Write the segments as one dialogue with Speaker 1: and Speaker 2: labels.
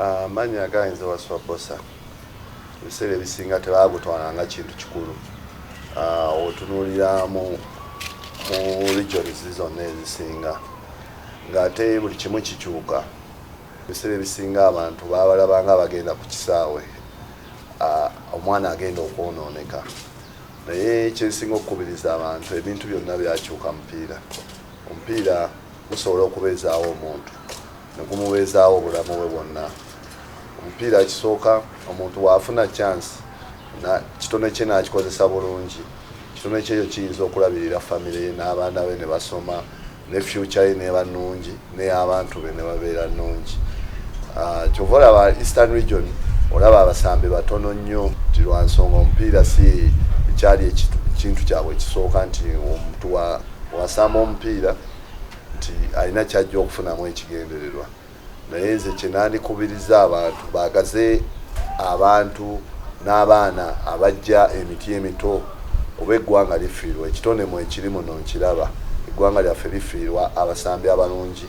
Speaker 1: Amannya gayinza Wasswa Bbosa ebiseera ebisinga tebagutwala nga kintu kikulu otunuulira mu regions zonna ezisinga ng'ate buli kimu kikyuka ebiseera ebisinga abantu babalabanga abagenda ku kisaawe omwana agenda okwonooneka naye kyensinga okukubiriza abantu ebintu byonna byakyuka mupiira omupiira gusobola okubeezaawo omuntu ne gumubeezaawo obulamu bwe bwonna omupiira kisooka omuntu waafuna chance kitone kye nakikozesa bulungi kitone kyeyo kiyinza okulabirira famire ye n'abaana be ne basoma ne fyuca ye neeba nnungi ney'abantu be ne babeera nnungi ah, kyova olaba eastern region olaba abasambi batono nnyo nti lwa nsonga omupiira si ekyali ekintu kyabwe ekisooka nti omuntu wasamba omupiira nti alina kyajja okufunamu ekigendererwa naye nze kyenandikubiriza abantu bagaze abantu n'abaana abajja emiti emito oba eggwanga lifiirwa ekitone mu ekiri muno nkiraba eggwanga lyaffe lifiirwa abasambi abalungi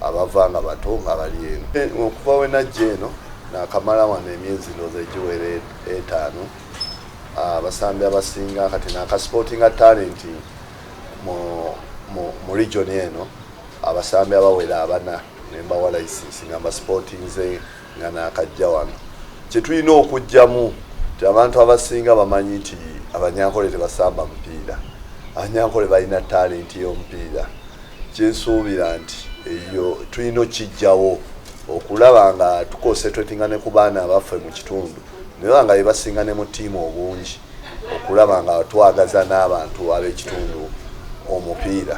Speaker 1: abava nga bato nga bali eno eh, okuva wenajja eno nakamala wano emyezi ndooza egiwera etaano abasambi abasinga kati nakasipotinga talenti mu, mu, mu region eno abasambi abawera abana nembawa license nga mbasipotinze nga nakajja wano kyetulina okujjamu ti abantu abasinga bamanyi nti abanyankole tebasamba mupiira abanyankole balina talenti yomupiira kyensuubira nti eyo tulina okijjawo okulaba nga tukosetratinga ne ku baana abaffe mu kitundu naye banga bebasinga ne mutiima obungi okulaba nga twagaza n'abantu ab'ekitundu omupiira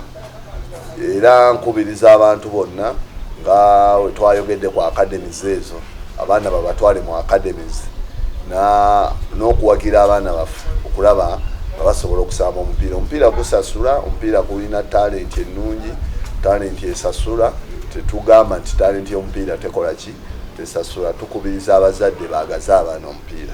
Speaker 1: era nkubiriza abantu bonna nga wetwayogedde ku academies ezo abaana babatwale mu academies n'okuwagira abaana baffe okulaba nga basobola okusamba omupiira omupiira gusasula omupiira gulina talenti ennungi talenti esasula tetugamba nti talenti y'omupiira tekola ki tesasula tukubiriza abazadde bagaze abaana omupiira.